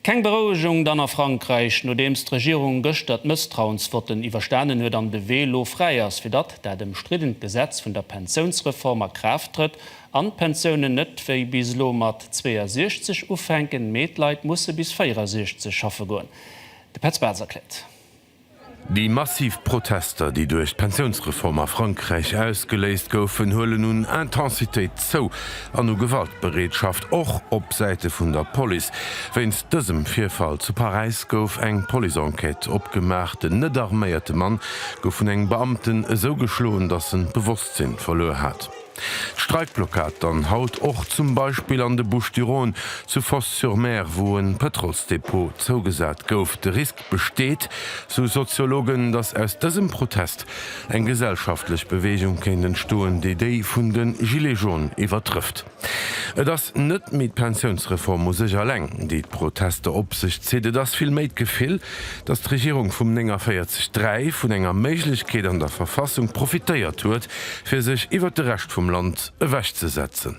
Keng Berouegung dann a Frankräich, nodeems d'Regierung gëschter d'Mësstrauensvotten iwwerstanen huet an de Wee lo fräi ass, fir datt dat ëmstriddent Gesetz vun der Pensiounsreform a Kraaft trëtt an d'Pensiounen net wéi bis elo mat 62 ufänken, mee d'Leit musse bis 64 schaffe goen. De Petz Bartz erkläert. Déi massiv Protester, déi duerch d'Pensiounsreform a Frankräich ausgeléist goufen, huelen un Intensitéit zou an u Gewaltbereetschaft, och op Säite vun der Police. Wéinst dësem Virfall zu Paräis gouf eng Police-Enquête opgemaach. Den net arméierte Mann gouf vun engem Beamten esou geschloen, datt en d'Bewosstsinn verluer hat. D'Streikblockad dann haut och zum Beispill an de Bouches-du-Rhône, zu Fos-sur-Mer, wou e Pëtrolsdepot zougesat gouf. De Risk, besteet, sou Soziologen, datt aus dësem Protest eng gesellschaftlech Beweegung kéint entstoen, déi déi vun de Gilets jaunes iwwertrëfft. Et ass net méi d'Pensiounsreform u sech alleng, déi d'Protester op sech zitt, et ass vill méi d'Gefill, datt d'Regierung vum 49 3 vun enger Méiglechkeet an der Verfassung profitéiert huet, fir sech iwwer de Rescht vum Land ewechzesetzen.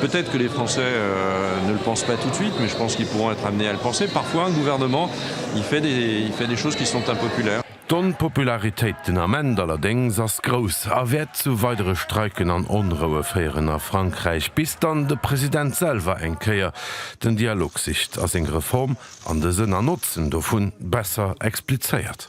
Peut-être que les Français ne le pensent pas tout de suite, mais je pense qu'ils pourront être amenés à le penser. Parfois, un gouvernement, il fait des, il fait des choses qui sont impopulaires. D'Onpopularitéit den Ament allerdéngs ass grouss a wäert zu weidere Streiken an Onroue féieren a Frankräich, bis dann de President selwer eng Kéier den Dialog sicht a seng Reform an de Sënn an Notzen dovun besser explizéiert.